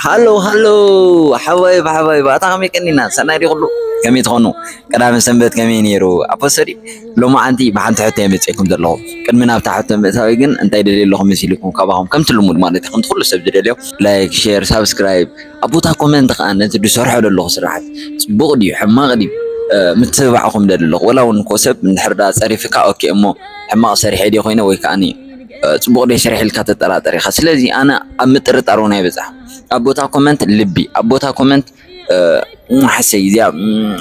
ሃሎ ሃሎ ሓባይብ ሓባይብ ኣታ ከመይ ቀኒና ሰናይ ድዩ ኩሉ ከመይ ትኾኑ ቀዳመ ሰንበት ከመይ ነይሩ ኣፖሰዲ ሎማዓንቲ ብሓንቲ ሕቶ እየ መፂኤኩም ዘለኹ ቅድሚ ናብታ ሕቶ ምእታዊ ግን እንታይ ደልየ ኣለኹ መሲልኩም ካባኹም ከምቲ ልሙድ ማለት እዩ ከምቲ ኩሉ ሰብ ዝደልዮ ላይክ ሼር ሳብስክራይብ ኣብ ቦታ ኮመንት ከዓ ነቲ ዝሰርሖ ዘለኹ ስራሕት ፅቡቕ ድዩ ሕማቕ ድዩ ምትብባዕኹም ደሊ ኣለኹ ወላ እውን እኮ ሰብ እንድሕር ዳ ፀሪፍካ ኦኬ እሞ ሕማቕ ሰሪሐ ድየ ኮይነ ወይ ከዓ ፅቡቅ ደይ ሰሪሐ ኢልካ ተጠራጠር ኢካ ስለዚ ኣነ ኣብ ምጥርጣር እውን ኣይበፃሕኩ ኣብ ቦታ ኮመንት ልቢ ኣብ ቦታ ኮመንት ሓሰይ እዚኣ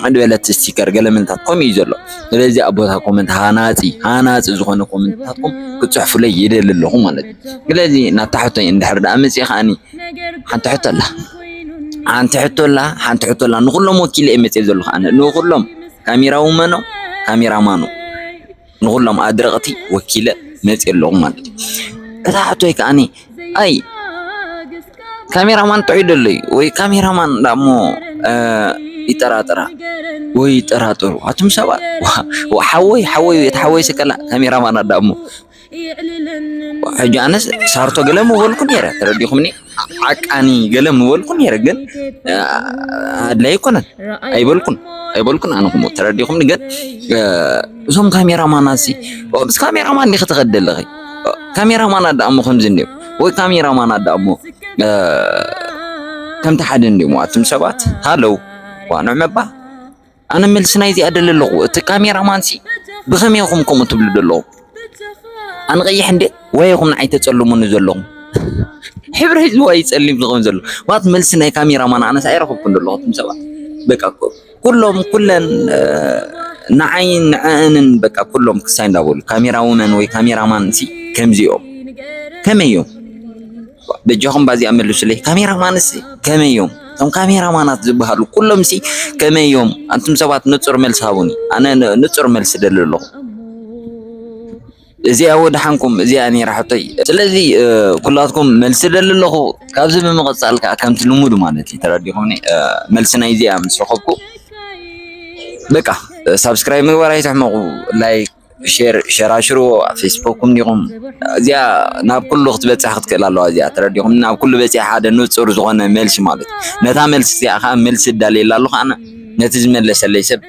ዕድበለት ስቲከር ገለመንታት ከምኡ እዩ ዘሎ ስለዚ ኣብ ቦታ ኮመንት ሃናፂ ሃናፂ ዝኾነ ኮመንትታትኩም ክትፅሕፉለይ ይደሊ ኣለኹ ማለት እዩ ስለዚ ናብታ ሕቶይ እንድሕር ደኣ መፅእ ከዓኒ ሓንቲ ሕቶ ኣላ ሓንቲ ሕቶ ኣላ ሓንቲ ሕቶ ኣላ ንኩሎም ወኪለ እየ መፅእ ዘለኹ ኣነ ንኩሎም ካሜራ ውመኖ ካሜራ ማኖ ንኹሎም ኣድረቕቲ ወኪለ መፂእ ኣለኹ ማለት እዩ። እታ ሕቶይ ከዓኒ ኣይ ካሜራማን ጥዑይ ደሎ እዩ ወይ ካሜራማን ዳሞ ይጠራጠራ ወይ ይጠራጠሩ ኣቱም ሰባት ሓወይ ሓወይ እቲ ሓወይ ስከላ ካሜራማን ኣዳሞ ሕጂ ኣነስ ሳርቶ ገለ ምበልኩ ነይረ ተረዲኹምኒ ሓቃኒ ገለ ምበልኩ ነይረ ግን ኣድላይ ኣይኮነን ኣይበልኩን ኣይበልኩን ኣነ ክሞ ተረዲኹምኒ ግን እዞም ካሜራማናሲ ምስ ካሜራማን ዲኺ ትኸዲ ኣለኺ ካሜራማን ኣዳ እሞ ከምዚ እንዲዮ ወይ ካሜራማን ኣዳ እሞ ከምቲ ሓደ እንዲሞ ኣቱም ሰባት ሃለው ዋንዕ መባ ኣነ መልሲ ናይዚኣ ደሊ ኣለኹ እቲ ካሜራ ማንሲ ብኸመይ ኹም ከምኡ ትብሉ ዘለኹም ኣነ ቀይሕ እንደ ወይ ኹም ንዓይ ተጸልሙኒ ዘለኹም ሕብሪ ህዝቢ ወይ ጸሊም ዝኾን ዘሎ ማለት መልሲ ናይ ካሜራ ማን ኣነስ ኣይረኸብኩን ዘለኹ ትም ሰባት በቃ ኩሎም ኩለን ንዓይን ንዕእንን በቃ ኩሎም ክሳይ እንዳበሉ ካሜራ ውመን ወይ ካሜራ ማንሲ ከምዚኦም ከመይ እዮም በጃኹም ባዚኣ መልሱለይ ካሜራ ማንስ ከመይ እዮም እቶም ካሜራ ማናት ዝበሃሉ ኩሎም ሲ ከመይ እዮም ኣንቱም ሰባት ንፁር መልሲ ሃቡኒ ኣነ ንፁር መልሲ ደሊ ኣለኹ እዚኣ ወድሓንኩም እዚኣ ነይራ ሕቶይ ስለዚ ኩላትኩም መልሲ ደሊ ኣለኹ ካብዚ ብምቕፃል ከዓ ከምቲ ልሙድ ማለት እዩ ተረዲኹምኒ መልሲ ናይ እዚኣ ምስ ረኸብኩ በቃ ሳብስክራይብ ምግባር ኣይትሕመቑ ላይክ ሼር ሸራሽርዎ ኣብ ፌስቡክኩም ዲኹም እዚኣ ናብ ኩሉ ክትበፅሕ ክትክእል ኣለዋ እዚኣ ተረዲኹም ናብ ኩሉ በፂሕ ሓደ ንፁር ዝኾነ መልሲ ማለት እዩ ነታ መልሲ እዚኣ ከዓ መልሲ እዳልየላ ኣለኹ ኣነ ነቲ ዝመለሰለይ ሰብ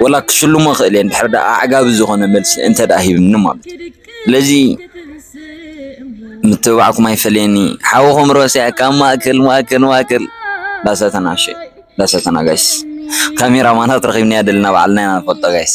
ወላ ክሽልሞ ክእል እየ ድሕር ዳኣ ኣዕጋቢ ዝኾነ መልሲ እንተ ዳኣ ሂብኒ ማለት እዩ ስለዚ ምትብባዕኩም ኣይፈለየኒ ሓውኹም ሮስያ ካብ ማእከል ማእከል ማእከል ዳሰተናሸ ዳሰተናጋሽ ካሜራ ማናት ረኺብናያ ደለና ባዕልና ኢና ንፈልጦ ጋይስ